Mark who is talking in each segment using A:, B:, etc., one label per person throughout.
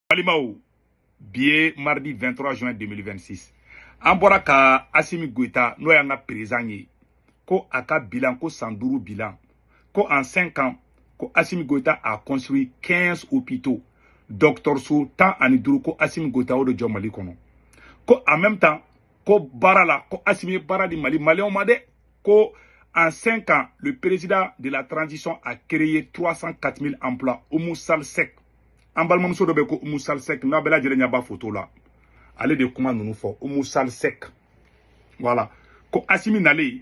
A: balimaw bi ye mardi 23 juin 2026 an bɔra ka asimi goyita n'o y'an ka perezan ye ko a ka bilan ko san duuru bilan ko en 5 ans ko asimi goyita a construit 15 hôpitaux dɔgɔtɔrɔso tan ani duuru ko asimi goyita o de jɔ mali kɔnɔ ko en même temps ko baara la ko asimi ye baara di mali maliyɛnw ma dɛ ko en 5 ans, le président de la transition a créé 304 000 emplois. Oumou Sall Seck. An balimamuso dɔ bɛ ko Oumou Sall Seck. N'a bɛɛ lajɛlen ɲɛ b'a photo la. Ale de kuma ninnu fɔ. Oumou Sall Seck. Voilà. Ko Assimi nalen,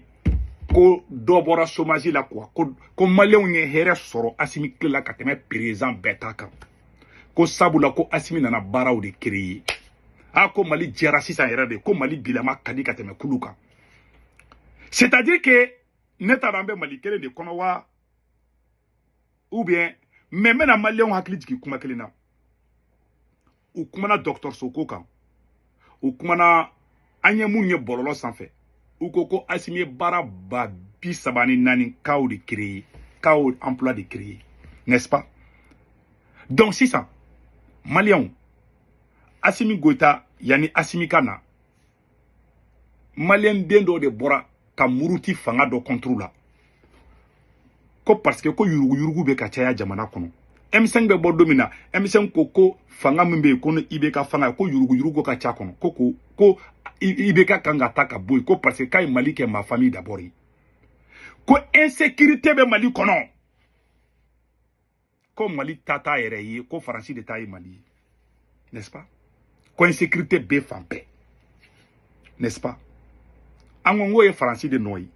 A: ko dɔ bɔra chômage la quoi. Ko, ko maliyɛnw ye hɛrɛ sɔrɔ Assimi tile la ka tɛmɛ président bɛɛ ta kan. Ko sabula ko Assimi nana baaraw de créer. Ah, ko Mali diyara sisan yɛrɛ de. Ko Mali bilama ka di ka tɛmɛ kunun kan. c'est à dire que ne t'a dɔn an bɛ mali kelen de kɔnɔ wa ou bien mais n bɛna maliyɛnw hakili jigin kuma kelen na u kumana dɔgɔtɔrɔso ko kan u kumana an ye mun ye bɔlɔlɔ sanfɛ u ko ko asimi ye baara ba bi saba ni naani kaw de créer kaw emploi de créer n'est-ce pas donc sisan maliyɛnw asimi goyita yanni asimi ka na maliyɛn den dɔ de bɔra ka muruti fanga dɔ contre la ko parce que ko yuruguyurugu bɛ ka caya jamana kɔnɔ m5 bɛ bɔ don min na m5 ko ko fanga min bɛ yen ko ni ibk fanga ye ko yuruguyurugu ka ca kɔnɔ ko ko ko ibk kan ka ta ka bɔ yen ko parce que k'a ye mali kɛ ma famille d'abord ye ko insécurité bɛ mali kɔnɔ ko mali ta t'a yɛrɛ ye ko faransi de ta ye mali ye n'est ce pas ko insécurité bɛ fan bɛɛ n'est ce pas an ko n k'o ye faransi de nɔ ye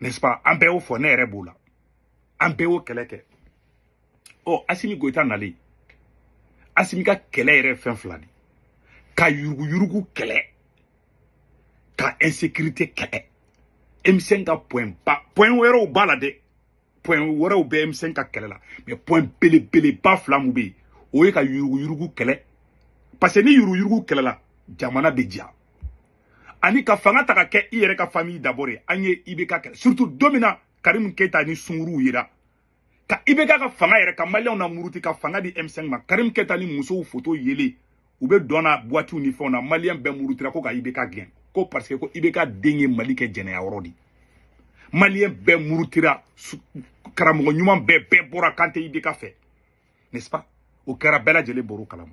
A: n'est ce pas an bɛɛ y'o fɔ ne yɛrɛ b'o la an bɛɛ y'o kɛlɛ kɛ ɔ asimi goyita nalen asimi ka kɛlɛ yɛrɛ fɛn fila de ka yuruguyurugu kɛlɛ ka insécurité kɛlɛ m5 ka point ba point wɛrɛw b'a la dɛ point wɛrɛw bɛ m5 ka kɛlɛ la mais point belebeleba fila mun bɛ yen o ye ka yuruguyurugu kɛlɛ parce que ni yuruguyurugu kɛlɛla jamana bɛ diya ani ka fanga ta ka kɛ i yɛrɛ ka famille d'abord ye an ye ibk kɛlɛ surtout don min na karimu keyita ni sunguruw yera ka ibk ka fanga yɛrɛ ka maliyɛnw na muruti ka fanga di m5 ma karimu keyita ni musow foto yelen u bɛ dɔn na buwatiw ni fɛnw na maliyɛn bɛɛ murutira ko ka ibk gɛn ko parce que ko ibk den ye mali kɛ jɛnɛya yɔrɔ de maliyɛn bɛɛ murutira karamɔgɔ ɲuman bɛɛ bɛɛ bɔra k'an tɛ ibk fɛ n'est ce pas o kɛra bɛɛ lajɛlen bɔr'o kalama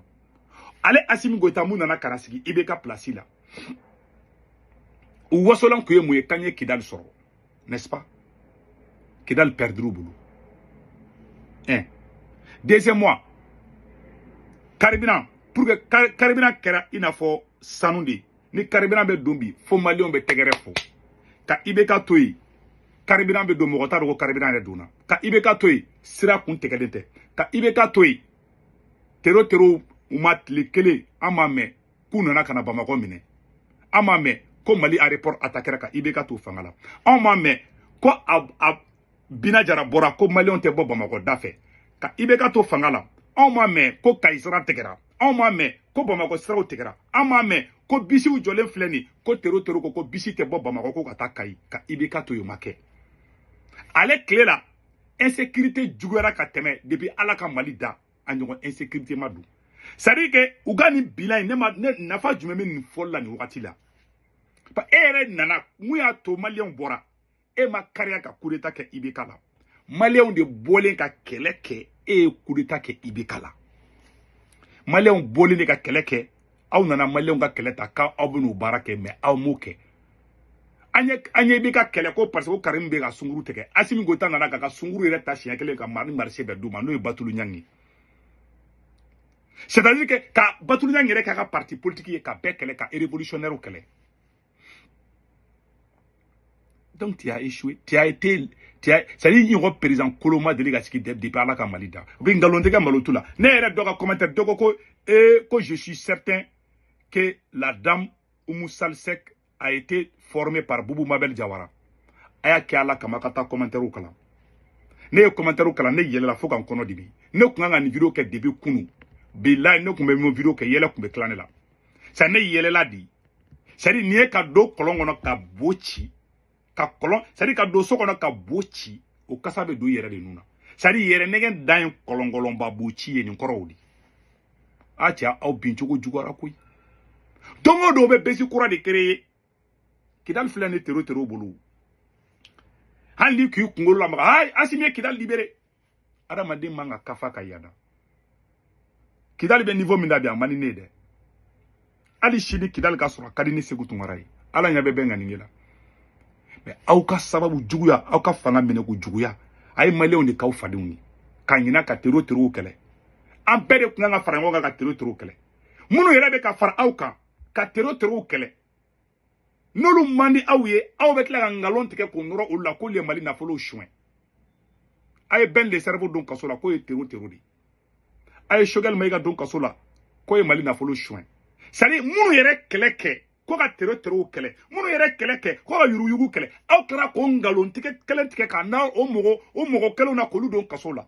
A: ale asimi goyita mun nana ka na sigi ibk pilasi la u wasolan kun ye mun ye k'an ye kidali sɔrɔ n'est-ce pas kidali pɛridir'u bolo hein deuxièmement carburant pour que carburant kɛra i n'a fɔ sanu de ni carburant bɛ don bi fo maliyɛnw bɛ tɛgɛrɛ fɔ ka ibk to yen carburant bɛ don mɔgɔ t'a dɔn ko carburant yɛrɛ donna ka ibk to yen sira kun tigɛlen tɛ ka ibk to yen tero tero u ma tile kelen an m'a mɛn k'u nana ka na bamakɔ minɛ an m'a mɛn ko mali aéroport atakɛra ka ibk to fanga la anw m'a mɛn ko a bina jara bɔra ko maliyɛnw tɛ bɔ bamakɔ da fɛ ka ibk to fanga la anw m'a mɛn ko kayi sira tigɛra anw m'a mɛn ko bamakɔ siraw tigɛra an m'a mɛn ko bisiw jɔlen filɛ nin ko tero tero ko ko bisi tɛ bɔ bamakɔ ko ka taa kayi ka ibk to yen o ma kɛ ale tile la insécurité juguyara ka tɛmɛ depuis ala ka mali da a ɲɔgɔn insécurité ma don c'est à dire que u ka nin bilan in nafa jumɛn bɛ nin fɔli la nin wagati la e yɛrɛ nana mun y'a to maliyɛnw bɔra e ma kariya ka kudeta kɛ ibk la maliyɛnw de bɔlen ka kɛlɛ kɛ e ye kudeta kɛ ibk la maliyɛnw bɔlen de ka kɛlɛ kɛ aw nana maliyɛnw ka kɛlɛ ta k'aw bɛn'o baara kɛ mais aw m'o kɛ an ye an ye ibk kɛlɛ ko parce que ko karimu bɛ ka sunguru tigɛ asimi goyita nana k'a ka sunguru yɛrɛ ta siɲɛ kelen ka mari marché bɛɛ d'u ma n'o ye batulu ɲangi ye c'est à dire que ka batulu ɲangi yɛrɛ k'a ka parti politique ye ka bɛɛ kɛlɛ ka révolutionnaire kɛlɛ donc tu as échoué tu as été tu as c'est à dire i ɲɔgɔn président kolon ma deli ka sigi depuis ala ka mali da u bɛ nkalon tigɛ malo t'u la ne yɛrɛ dɔ ka commentaire dɔ ko ko ee ko je suis certain que la dame Oumou Sall Seck a été formée par Boubou Mabel Diawara a y'a kɛ ala kama ka taa commentaire kalan ne ye commentaire kalan ne yɛlɛla fo ka n kɔnɔ dimi ne tun kan ka nin video kɛ depuis kunu bilayi ne tun bɛ nin video kɛ yɛlɛ tun bɛ tilan ne la sa ne yɛlɛla di c'est à dire nin ye ka don kɔlɔn kɔnɔ ka bo ci ka kɔlɔn c'est à dire ka don so kɔnɔ ka bo ci o kasa bɛ don i yɛrɛ de nun na c'est à dire yɛrɛ nɛgɛ dan ye kɔlɔnkɔlɔnba bo ci ye nin kɔrɔw di a cɛ aw bin cogo juguyara koyi don o don bɛ besi kura de créer ye kidali filɛ nin tero tero bolo hali ni k'i kunkolo lamaga ayi asimi ye kidali libere adamaden man kan ka fa ka yada kidali bɛ niveau min da bi a man di ne ye dɛ hali sini kidali ka sɔrɔ a ka di ne seku tunkara ye ala y'an bɛɛ bɛn ŋaniya la mais aw ka sababu juguya aw ka fanga minɛ ko juguya a ye maliyɛnw de k'aw fadenw ye ka ɲina ka tero terow kɛlɛ an bɛɛ de kun kan ka fara ɲɔgɔn kan ka tero terow kɛlɛ minnu yɛrɛ bɛ ka fara aw kan ka tero terow kɛlɛ n'olu man di aw ye aw bɛ tila ka nkalon tigɛ k'o nɔrɔ olu la k'olu ye mali nafolow suɲɛ a ye ben le cerveau don kaso la k'o ye tero tero de a ye sogɛli mayiga don kaso la k'o ye mali nafolo suɲɛ c'est-à-dire minnu yɛrɛ kɛlɛ kɛ ko ka tero terow kɛlɛ minnu yɛrɛ kɛlɛ kɛ ko ka yuruyugu kɛlɛ aw kɛra k'o nkalon tigɛ kelen tigɛ ka na o mɔgɔ o mɔgɔ kelenw na k'olu don kaso la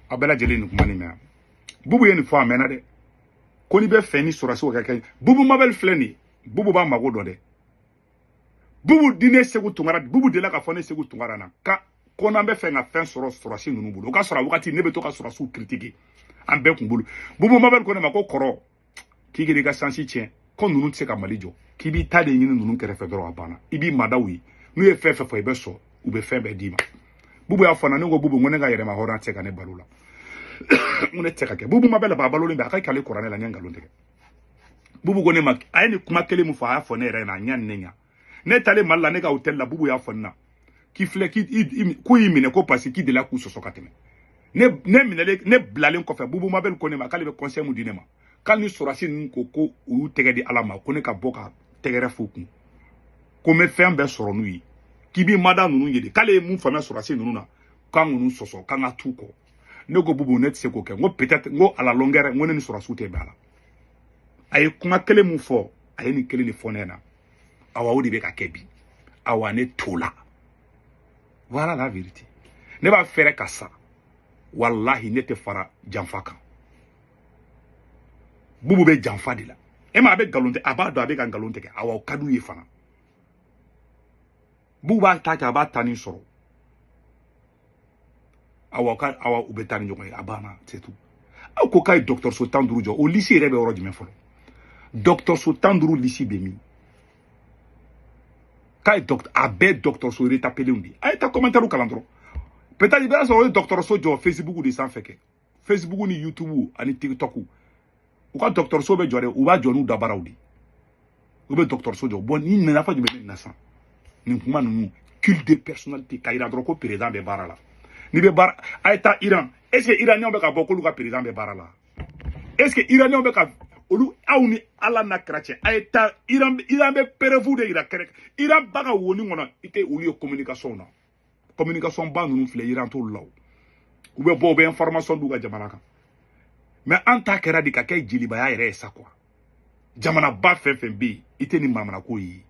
A: aw bɛɛ lajɛlen nin kuma nin mɛn bubu ye nin fɔ a mɛnna dɛ ko n'i bɛ fɛ ni sɔrɔsiw ka kɛ bubu mabɛli filɛ nin ye bubu b'a mago dɔn dɛ bubu di ne segu tunkara bubu delila k'a fɔ ne segu tunkara na ka ko n'an bɛ fɛ ka fɛn sɔrɔ sɔrɔsi ninnu bolo o ka sɔrɔ a wagati ne bɛ to ka sɔrɔsiw kiritike an bɛɛ kun bolo bubu mabɛli ko ne ma ko kɔrɔ k'i kana i ka sansi tiɲɛ ko ninnu tɛ se ka mali jɔ k'i b'i ta de ɲini ninnu kɛrɛfɛ dɔrɔn a banna i b'i mada u ye n'u ye fɛn fɛn fɔ i bɛ sɔn u bɛ fɛn bɛɛ d'i ma bubu y'a fɔ na ne ko bubu ko ne ka yɛrɛmahɔrɔn tɛ se ka ne balo la n ko ne tɛ se ka kɛ bubu mabɛli ba balolen bɛ a ka ɲi k'ale kɔrɔ ne la n ye nkalon tigɛ bubu ko ne ma a ye nin kuma kelen min fɔ a y'a fɔ ne yɛrɛ ɲɛna a ɲa ni ne ɲa ne taalen mali la ne ka hôtel la bubu y'a fɔ ne na k'i filɛ k'u y'i minɛ ko parce que k'i delila k'u sɔsɔ ka tɛmɛ ne ne minɛlen ne bilalen kɔfɛ bubu mabɛli ko ne ma k'ale bɛ conseil mun di ne ma k'ale ni sɔrɔsi ninnu ko ko u y'u tɛgɛ di ala ma ko ne ka bɔ ka tɛgɛrɛ f'u kun ko n bɛ fɛn bɛɛ sɔrɔ n'u ye k'i b'i mada ninnu ye de k'ale ye mun faamuya sɔrɔsi ninnu na kana ninnu sɔsɔ k'an ka t'u kɔ ne ko bubu ne tɛ se k'o kɛ n ko peut-être n ko à la longueur n ko ne ni sɔrɔsiw tɛ bɛn a la a ye kuma kelen min fɔ a ye nin kelen de fɔ ne na awa o de bɛ ka kɛ bi awa ne t'o la voilà la vérité ne b'a fɛ yɛrɛ ka sa walahi ne tɛ fara janfa kan bubu bɛ janfa de la e ma a bɛ nkalon tigɛ a b'a dɔn a bɛ ka nkalon tigɛ awa o ka d'u ye fana bubu b'a ta kɛ a b'a tanin sɔrɔ awa awa u bɛ taa ni ɲɔgɔn ye a banna c'est tout aw ko k'a ye dɔgɔtɔrɔso tan duuru jɔ o lisi yɛrɛ bɛ yɔrɔ jumɛn fɔlɔ dɔgɔtɔrɔso tan duuru lisi bɛ min k'a ye a bɛɛ dɔgɔtɔrɔso retapelenw de a ye taa kɔmɛntɛriw kalan dɔrɔn peut-être i b'a sɔrɔ o ye dɔgɔtɔrɔso jɔ facebook de sanfɛ kɛ facebook ni youtube ani tiktok u ka dɔgɔtɔrɔso bɛ jɔ dɛ u b'a jɔ n'u dabaraw de u bɛ dɔgɔtɔrɔso jɔ bon nin nafa jumɛn bɛ nin na sisan nin kuma ninnu culte de personnalité k'a yira dɔrɔn ko président bɛ baara la n'i bɛ baara a ye taa iran est ce que iraniyɛnw bɛ ka bɔ k'olu ka président bɛ baara la est ce que iraniyɛnw bɛ ka olu aw ni ala n'a kɛra cɛ a ye taa iran iran bɛ preuve de yira kɛrɛ iran b'a ka woni kɔnɔ i tɛ olu ye communication na communication ba ninnu filɛ iran t'olu la o u bɛ bɔ u bɛ information d'u ka jamana kan mais an ta kɛra de ka kɛ jelibaya yɛrɛ ye sa quoi jamanaba fɛn fɛn bɛ yen i tɛ nin manamanako ye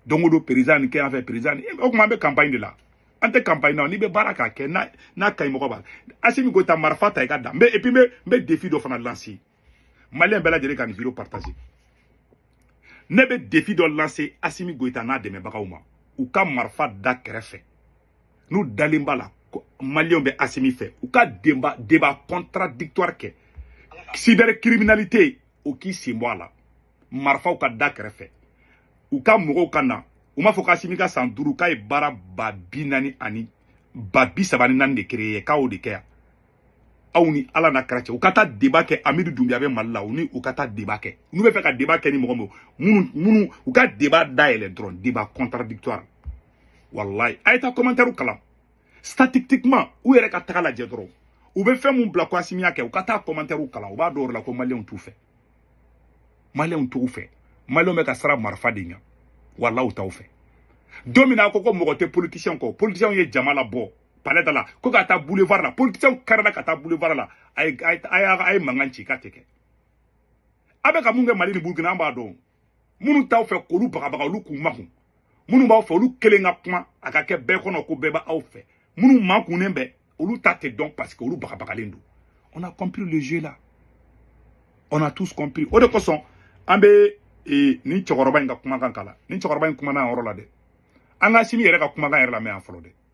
A: don o don président nin kɛ yan fɛ président nin o tuma an bɛ campagne de la an tɛ campagne na n'i bɛ baara k'a kɛ n'a n'a ka ɲi mɔgɔ b'a la asimi goyita marifa ta i ka da et puis n bɛ n bɛ defi dɔ fana lanse maliyɛn bɛɛ lajɛlen ka nin vidéo partager ne bɛ défi dɔ lancer asimi goyita n'a dɛmɛbagaw ma u ka marifa da kɛrɛfɛ n'u dalen b'a la maliyɛnw bɛ asimi fɛ u ka débat contradictoire kɛ cyber criminalité o k'i sen bɔ a la marifaw ka da kɛrɛfɛ u ka mɔgɔw ka na u m'a fɔ k'asimi ka san duuru k'a ye baara ba bi naani ani ba bi saba ni naani de créer k'o de kɛ yan aw ni ala n'a kɛra cɛ u ka taa débat kɛ amidu dunbiya bɛ mali la u ni u ka taa débat kɛ n'u bɛ fɛ ka débat kɛ ni mɔgɔ minnu u ka débat dayɛlɛ dɔrɔn débat contradictoire wallahi a ye taa commentaire kalan statistiquement u yɛrɛ ka taga lajɛ dɔrɔn u bɛ fɛn min bila ko asimi y'a kɛ u ka taa commentaire kalan u b'a dɔn o la ko maliyɛnw t'u fɛ maliyɛnw t'u fɛ maliyɛnw bɛ ka siran marifa de ɲɛ wallahi u t'aw fɛ don min na a ko mɔgɔ tɛ politicien kɔ politicien ye jama labɔ palais da la ko ka taa boulevard la politiciens karila ka taa boulevard la a ye a ye mankan ci k'a tɛ kɛ a bɛ ka mun kɛ mali ni burukina an b'a dɔn minnu t'aw fɛ k'olu bagabaga olu k'u makun minnu b'aw fɛ olu kelen ka kuma a ka kɛ bɛɛ kɔnɔ ko bɛɛ b'aw fɛ minnu makunnen bɛ olu ta tɛ dɔn parce que olu bagabagalen don on a compris le jeu là on a tous compris o de kosɔn an bɛ eh, nin cɛkɔrɔba in ka kumakan kala nin cɛkɔrɔba in kumana yɔrɔ la dɛ an k'asimi yɛrɛ ka kumakan yɛrɛ lamɛn yan fɔlɔ dɛ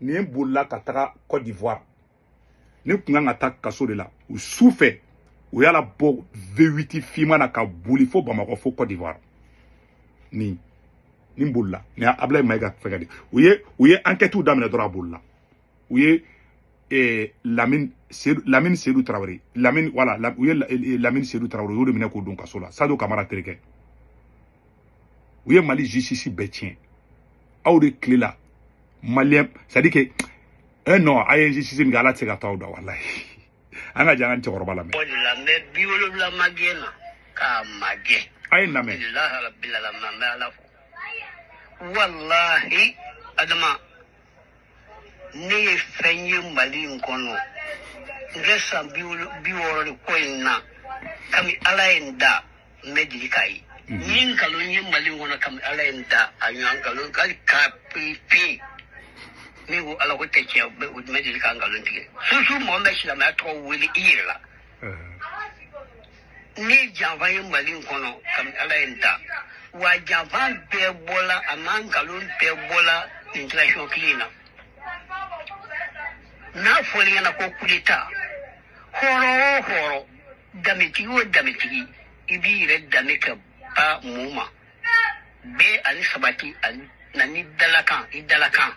A: nin bolila ka taga côte d'ivoire nin tun kan ka taa kaso de la u su fɛ u y'a labɔ v8 finman na ka boli fo bamakɔ fo côte d'ivoire nin nin bolila nin ablaye mayiga fɛgɛ de u ye u ye enquêtew daminɛ dɔrɔn a bolila u ye eh, lamine sedu lamine sedu tarawele lamine voilà u ye lamine sedu tarawele u y'o de minɛ k'o don kaso la sadio kamara terikɛ u ye mali justice bɛɛ tiɲɛ aw de tile la maliyɛn c'est à dire que eh non a ye justice min kɛ ala tɛ se ka to aw da walayi an ka jɛn an ka cɛkɔrɔba lamɛn lamɛn
B: bi wolonwula magɛn na k'a magɛn a ye lamɛn
A: rabil
B: alamina ala walahi adama ne ye fɛn ye mali in kɔnɔ n kɛ san bi wɔɔrɔ de ko in na kami ala ye n da n ma deli k'a ye mhm. n ye nkalon ye mali in kɔnɔ kami ala ye n da a ɲɔgɔn nkalon hali k'a pepe ne ko ala ko tɛ tiɲɛ u bɛ deli ka nkalon tigɛ susu mɔgɔ bɛ silamɛya tɔgɔ wele i yɛrɛ la ne janfa ye mali in kɔnɔ kami ala ye n da wa janfa bɛɛ bɔla a ma nkalon bɛɛ bɔla nin transition kile in na n'a fɔli ɲɛna ko kudeta hɔrɔn o hɔrɔn danbetigi o danbetigi i b'i yɛrɛ dame ka ba mun ma bɛɛ ani sabati ani na ni dalakan i dalakan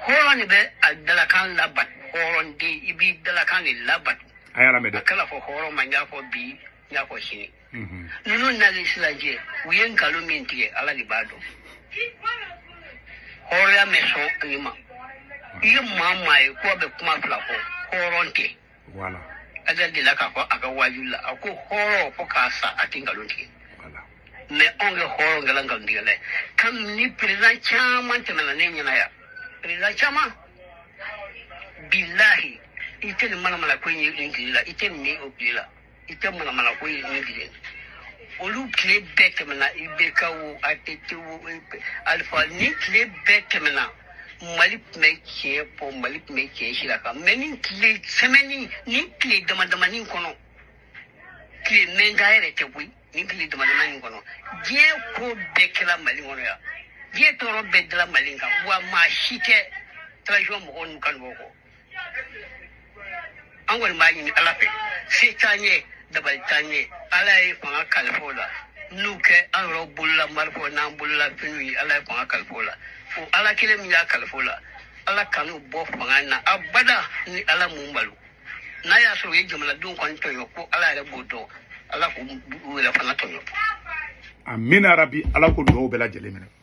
B: hɔrɔn de bɛ a dalakan labato hɔrɔn de i b'i dalakan de labato a y'a lamɛn dɛ a kana
A: fɔ hɔrɔn ma n y'a
B: fɔ bi n y'a fɔ sini Mhm. ninnu nali silajɛ u ye nkalon min tigɛ ala de b'a dɔn hɔrɔnya mɛ sɔn nin ma i ye maa maa ye k'o bɛ kuma fila fɔ hɔrɔn tɛ
A: wala ajali de la
B: k'a fɔ a ka waaju la a ko hɔrɔn fo ka sa a tɛ nkalon tigɛ wala
A: mɛ anw ka
B: hɔrɔn kɛla nkalon tigɛla ye kamini perezidan caman tɛmɛna ne ɲɛna yan perezidan caman bilahi i tɛ nin manamana ko in ye nin tile la i tɛ nin ye o tile la i tɛ manamanako ye ne bilen olu tile bɛɛ tɛmɛna IBK wo ATT wo alifa ni tile bɛɛ tɛmɛna mali tun bɛ tiɲɛ fɔ mali tun bɛ tiɲɛ sira kan mɛ ni tile sɛmɛni ni tile damadamani kɔnɔ tile mɛnga yɛrɛ tɛ koyi ni tile damadamani kɔnɔ diɲɛ ko bɛɛ kɛra mali kɔnɔ yan diɲɛ tɔɔrɔ bɛɛ dira mali kan wa maa si tɛ transition mɔgɔw n'u kanubaaw kɔ an kɔni b'a ɲini ala fɛ se t'an ye dabali t'an ye ala ye fanga kalifa u la n'u kɛ an yɛrɛ bolola marifaw n'an bolola finiw ye ala ye fanga kalifa u la fo ala kelen min y'a kalifa u la ala kan'u bɔ fanga na abada ni ala m'u malo n'a y'a sɔrɔ u ye jamanadenw kɔni tɔɲɔ ko ala yɛrɛ b'o dɔn ala k'u yɛrɛ fana tɔɲɔ amina
A: rabi ala k'o dugawu bɛɛ lajɛlen minɛ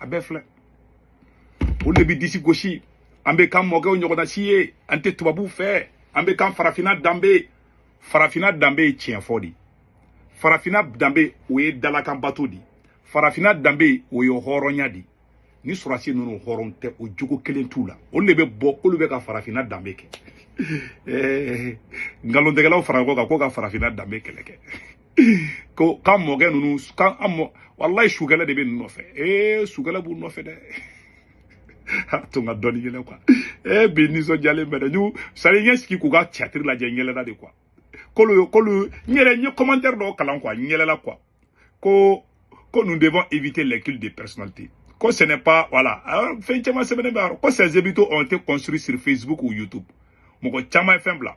A: a bɛɛ filɛ o de bɛ disi gosi an bɛ k'an mɔkɛw ɲɔgɔnasi ye an tɛ tubabuw fɛ an bɛ kan farafinna danbe farafinna danbe ye tiɲɛ fɔ di farafinna danbe o ye dalakan bato di farafinna danbe o ye hɔrɔnya di ni sɔrɔdasi ninnu hɔrɔn tɛ o jogo kelen t'u la olu de bɛ bɔ k'olu bɛ ka farafinna danbe kɛ nkalontigɛlaw fara ɲɔgɔn kan ko ka farafinna danbe kɛlɛ kɛ ko k'an mɔkɛ ninnu k'an an mɔ walayi sukɛlɛ de bɛ ninnu nɔfɛ ee sukɛlɛ b'u nɔfɛ dɛ a to n ka dɔɔni yɛlɛ kuwa ee bi nisɔndiyalen bɛ dɛ n'u sari n ye n sigi k'u ka catiri lajɛ n yɛlɛla de kuwa k'olu k'olu n yɛrɛ n ye kɔmantɛri dɔw kalan kuwa n yɛlɛla kuwa ko ko nous devons éviter les cultes de personnalité ko ce n'est pas voilà fɛn caman sɛbɛnnen bɛ a yɔrɔ ko ces hôpitaux ont été construits sur Facebook ou YouTube mɔgɔ caman ye fɛn bila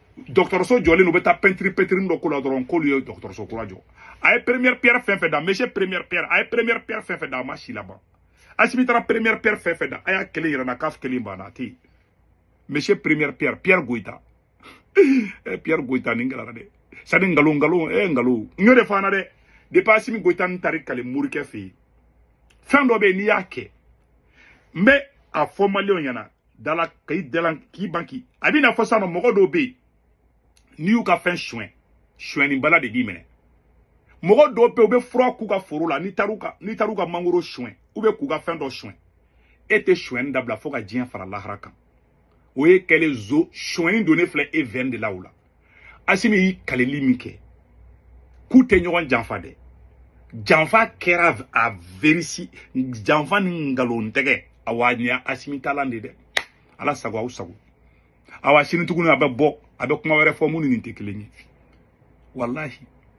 A: dɔgɔtɔrɔso jɔlen u bɛ taa pɛntiri pɛntiri dɔ k'o la dɔrɔn k'olu ye dɔgɔtɔrɔso kura jɔ a ye première pierre fɛn fɛn da monsieur première pierre a ye première pierre fɛn fɛn da a ma si laban asimi taara première pierre fɛn fɛn da a y'a kelen yɛrɛ na k'a kelen banna a tɛ yen monsieur première pierre pierre goyita eh, pierre goyita nin gɛlɛyara dɛ sani nkalon nkalon eh nkalon n y'o de fɔ an na dɛ depuis asimi goyita n taari kale morikɛ fɛ yen fɛn dɔ bɛ yen n'i y'a kɛ n bɛ a fɔ maliyɛnw ɲɛna dala ka i dalan k'i banki a b'i n'a fɔ sisan nɔ mɔgɔ dɔw bɛ yen n'i y'u ka fɛn suɲɛ suɲɛni bala de b'i minɛ mɔgɔ dɔw bɛ yen u bɛ fura k'u ka foro la n'i taar'u ka mangoro suɲɛ u bɛ k'u ka fɛn dɔ suɲɛ e tɛ suɲɛni dabila fo ka diɲɛ fara lahara kan o ye kɛlen zo suɲɛni donnen filɛ e veine de la o la asimi y'i kalili min kɛ k'u tɛ ɲɔgɔn janfa dɛ janfa kɛra a verisi janfa ni nkalon tigɛ awa nin y'a asimi talan de dɛ ala sago aw sago awa sini tuguni a bɛ bɔ a bɛ kuma wɛrɛ fɔ min ni nin tɛ kelen ye walahi